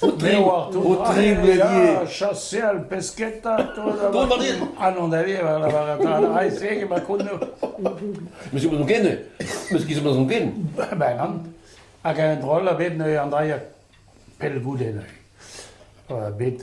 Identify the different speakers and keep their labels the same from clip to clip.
Speaker 1: Aotre chassé le pesqueta. Dont a rin.
Speaker 2: Ah non, da vi,
Speaker 1: la barata. Ai, c'est que ma conno. Monsieur
Speaker 2: Bazonken, monsieur qui se Bazonken? Ben, an.
Speaker 1: Hag un drôle a bet neuze an draia pell goude neuze. Bet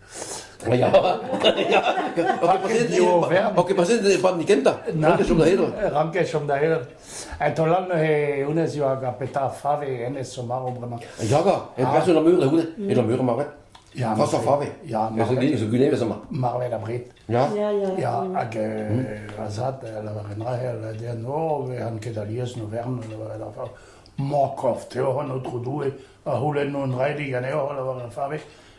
Speaker 2: Ya, ya. Ok, pa se ne pam ni kenta. Ranket da hedro. Ranket chom da hedro.
Speaker 1: En to lan he unez ioa ga peta fave ene somaro bremañ. Ya ga, en person
Speaker 2: ar mur da une, e la mur marvet. Ya, François Fave.
Speaker 1: Ya,
Speaker 2: marvet. Zo gune
Speaker 1: vezama.
Speaker 2: Marvet abrit.
Speaker 1: Ya. Ya, ya.
Speaker 2: Ya,
Speaker 1: hag a zad, la varenra el den o, an ket alies no vern, la varenra. Mokof, Teo, an otro doue, a houlen non raili gane o, la varenra fave.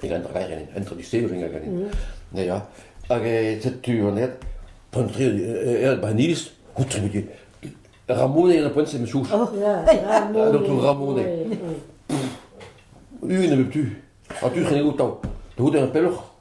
Speaker 2: Pegañ a raer en introducezhioù hag en ya hag setu anezhañ poent-tre er Baniz koulskoude Ramonet eo ar poent-se me souch
Speaker 3: Doktor
Speaker 2: Ramonet un nebeut tu ha tu c'hene outañ da c'houde ar pelloc'h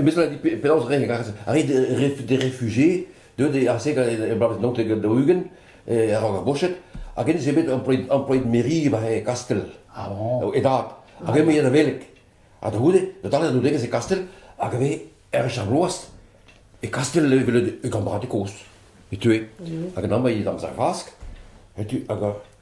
Speaker 2: Meus dit penaos reiñ a rit d'e refugié deuet ar segal er bloavezh naontek daou-ugent a-raok ar goched hag hennezh eo bet employet mairie war e Kastell e
Speaker 1: dad
Speaker 2: hag
Speaker 1: eñ eo
Speaker 2: da veleg ha da c'houde da dale d'an doudegezh e Kastell hag e vez er wech ar bloaz e Kastell evel e gambradeg kozh e teue hag an anv eo d'am sav-fask hag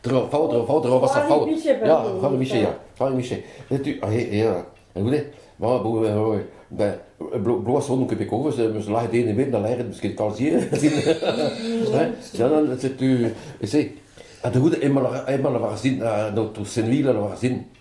Speaker 2: Tro, faout, tro, faout, tro, vasa, faout. Ya, faout miche, ya, faout miche. Setu, ah, ya, écoutez, ma, bloaz nou kepe kovez, meus lahet ene bet na laeret meus ket kalzier. Janan, setu, ese, ha da gout, ema la varazin, donc to senvil la varazin.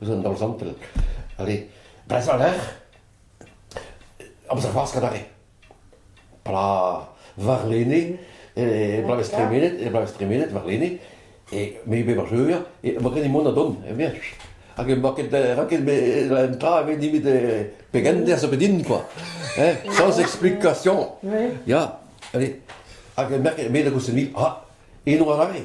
Speaker 2: eus an daol zantel. Allez, brezhoneg, amzer c'hoazh adarre. Pla warlene, e bloavezh tremenet, e bloavezh tremenet warlene, e me be bacheur, e ma gren mont a don, e bien. Hag e ma ket, ra ket me un tra, e ve nimit pegen der zo bedin, quoi. Eh? Sans explication. Oui. Ya, allez. Hag e merk, me da goussenil, ah, e no arare.